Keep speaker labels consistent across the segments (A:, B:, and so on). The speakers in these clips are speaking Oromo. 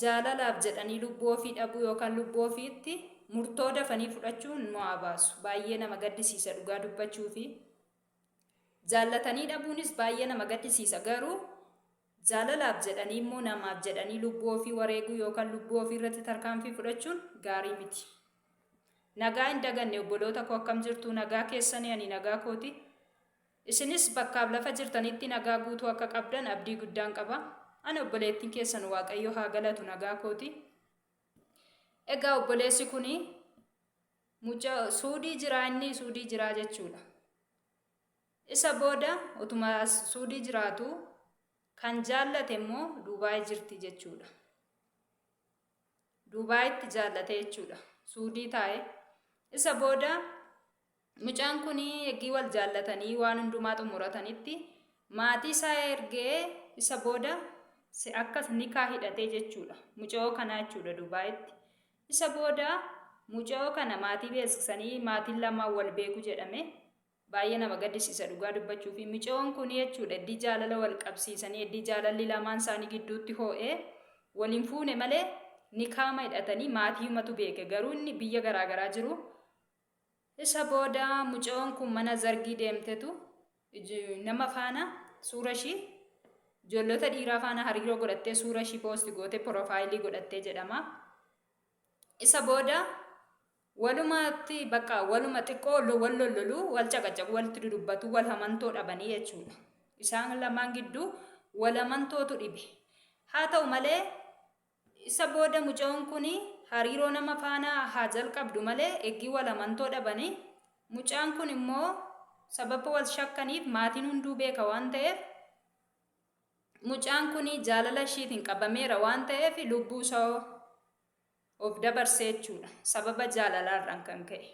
A: jaalalaaf jedhanii lubbuu ofii dhabuu yookaan lubbuu ofiitti murtoo dafanii fudhachuun nu haa baasu. Baay'ee nama gaddisiisa dhugaa dubbachuu fi jaallatanii dhabuunis baay'ee nama gaddisiisa garuu jaalalaaf jedhanii immoo namaaf jedhanii lubbuu ofii wareeguu yookaan lubbuu ofii irratti tarkaanfii fudhachuun gaarii miti. Nagaa hin daganne obboloota koo akkam jirtu nagaa keessanii ani nagaa kooti. Isinis bakkaaf lafa jirtanitti nagaa guutuu akka qabdan abdii guddaan qaba. Ani obboleettiin keessan Waaqayyo haa galatu nagaa kooti. Egaa obboleessi kun muca suudii jiraa inni suudii jiraa jechuudha. Isa booda utuma suudii jiraatu kan jaallate immoo Duubaay jirti jechuudha. Duubaayitti jaallate jechuudha. Suudii taa'e. Isa booda Mucaan kun eggii wal jaallatanii waan hundumaa xumuratanitti maatii isaa ergee isa booda si akkas nikaa hidhatee jechuudha. Muca'oo kanaa jechuudha Dubaayitti. Isa booda muca'oo kana maatii beeksisanii maatiin lamaan wal beeku jedhame. Baay'ee nama gaddisiisa dhugaa dubbachuu fi muca'oon kun jechuudha eddii jaalala wal qabsiisanii eddii jaalalli lamaan isaanii gidduutti hoo'ee waliin fuune malee nikaama hidhatanii maatii himatu beeke garuu inni biyya garaagaraa jiru Isa booda mucayoon kun mana zargii deemtetu nama faana suura ishii ijoollota dhiiraa faana hariiroo godhattee suura ishii poosti gootee piroofaayilii godhattee jedhama. Isa booda walumaatti bakka waluma xiqqoo wal lollolu wal caqacaqu walitti dudubbatu wal hamantoo dhabanii jechuudha. Isaan lamaan gidduu wal hamantootu dhibe. Haa ta'u malee Isa booda mucayoon kun hariiroo nama faana haa jalqabdu malee eggii wal amantoo dhabani. Mucaan kun immoo sababa wal shakkaniif maatiin hunduu beeka waan ta'eef mucaan kun jaalala ishiitiin qabameera waan ta'eef lubbuu isaa of dabarsee jechuudha sababa jaalalaarraan kan ka'e.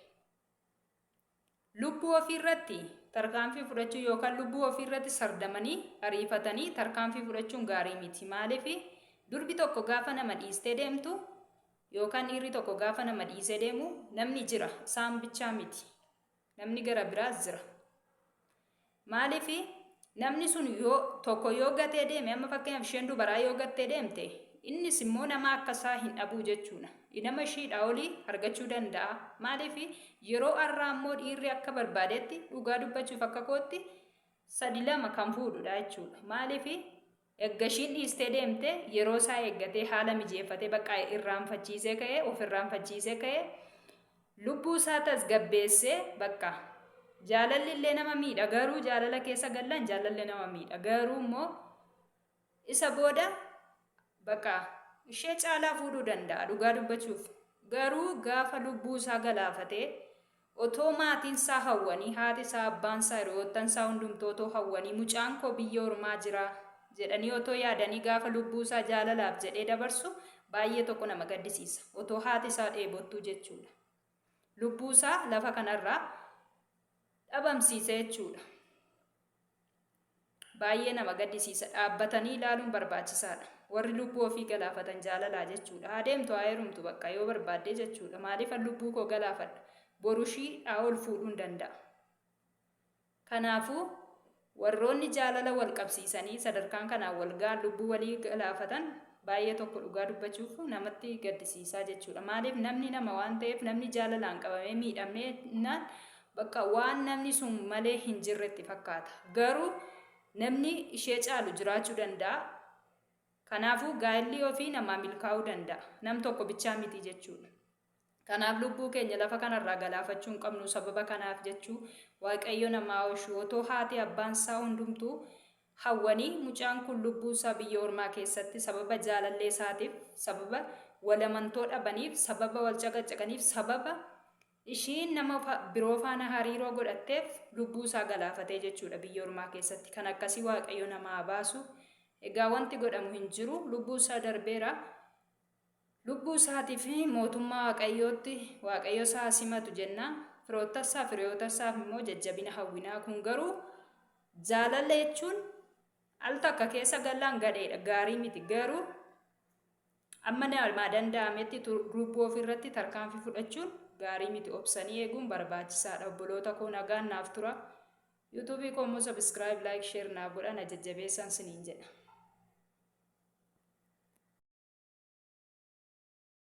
A: Lubbuu ofii irratti tarkaanfii fudhachuu yookaan lubbuu ofii irratti sardamanii ariifatanii tarkaanfii fudhachuun gaarii miti. Maaliif durbi tokko gaafa nama dhiistee deemtu yookaan dhiirri tokko gaafa nama dhiisee deemu namni jira isaan bichaa miti. Namni gara biraas jira. Maaliif namni sun yoo tokko yoo gatee deeme amma fakkeenyaaf isheen dubaraa yoo gattee deemte innis immoo nama akka isaa hin dhabuu jechuudha. Nama ishiidhaa olii argachuu danda'a. Maaliif yeroo har'aa immoo dhiirri akka barbaadetti dhugaa dubbachuuf akka kootti sadi lama kan fuudhudha jechuudha. Maaliif Erga ishiin dhiistee deemte yeroo isaa eeggatee haala mijeeffatee bakka irraanfachiisee ka'ee of irraanfachiisee ka'ee lubbuu isaa tasgabbeessee bakka jaalalli illee nama miidha garuu jaalala keessa gallaan jaalalli nama miidha garuu immoo isa booda bakka ishee caalaa fuudhuu danda'a dhugaa dubbachuuf garuu gaafa lubbuu isaa galaafatee Otoo maatiin isaa hawwanii, haati isaa, abbaan isaa, hiriyoottan isaa hundumtuu otoo hawwanii mucaan koo biyya ormaa jira jedhanii otoo yaadanii gaafa lubbuu isaa jaalalaaf jedhee dabarsu baay'ee tokko nama gaddisiisa. Otoo haati isaa dheebottuu jechuudha. Lubbuu isaa lafa kanarraa dhabamsiisa jechuudha. Baay'ee nama gaddisiisa. Dhaabbatanii ilaaluun barbaachisaadha. Warri lubbuu ofii galaafatan jaalalaa jechuudha. Haa deemtu haa heerumtu bakka yoo barbaaddee jechuudha. Maaliifan lubbuu koo galaafadha? Boru ishii haa ol fuudhuun danda'a. Kanaafuu warroonni jaalala wal qabsiisanii sadarkaan kanaan wal ga'an lubbuu walii galaafatan baay'ee tokko dhugaa dubbachuuf namatti gaddisiisaa jechuudha. Maaliif namni nama waan ta'eef namni jaalalaan qabamee miidhamnaan Bakka waan namni sun malee hin jirretti fakkaata. Garuu namni ishee caalu jiraachuu danda'a. Kanaafuu gaa'illi ofii namaa milkaa'uu danda'a. Nam tokko bichaa miti jechuudha. Kanaaf lubbuu keenya lafa kanarraa galaafachuu hin qabnu sababa kanaaf jechuu waaqayyo namaa oolchu otoo haati abbaan isaa hundumtuu hawwanii mucaan kun lubbuu isaa biyya ormaa keessatti sababa jaalallee isaatiif sababa walamantoo dhabaniif sababa wal caqacaqaniif sababa Ishiin nama biroo faana hariiroo godhatteef lubbuu isaa galaafatee jechuudha biyya ormaa keessatti kan akkasii waaqayyo nama haa baasu egaa wanti godhamu hin jiru lubbuu isaa darbeera lubbuu isaatii fi mootummaa waaqayyootti waaqayyo isaa simatu jenna firoottassaa firiyootassaaf immoo jajjabina hawwinaa kun garuu jaalala jechuun al takka keessa gallaan gadheedha gaarii miti garuu Amma nama danda'ametti group of irratti tarkaanfii fudhachuun gaarii miti obsanii eeguun barbaachisaadha obboloota koo nagaan naaf tura YouTube koo immoo subscribe like share naaf godha na jajjabeessaan siniin jedha.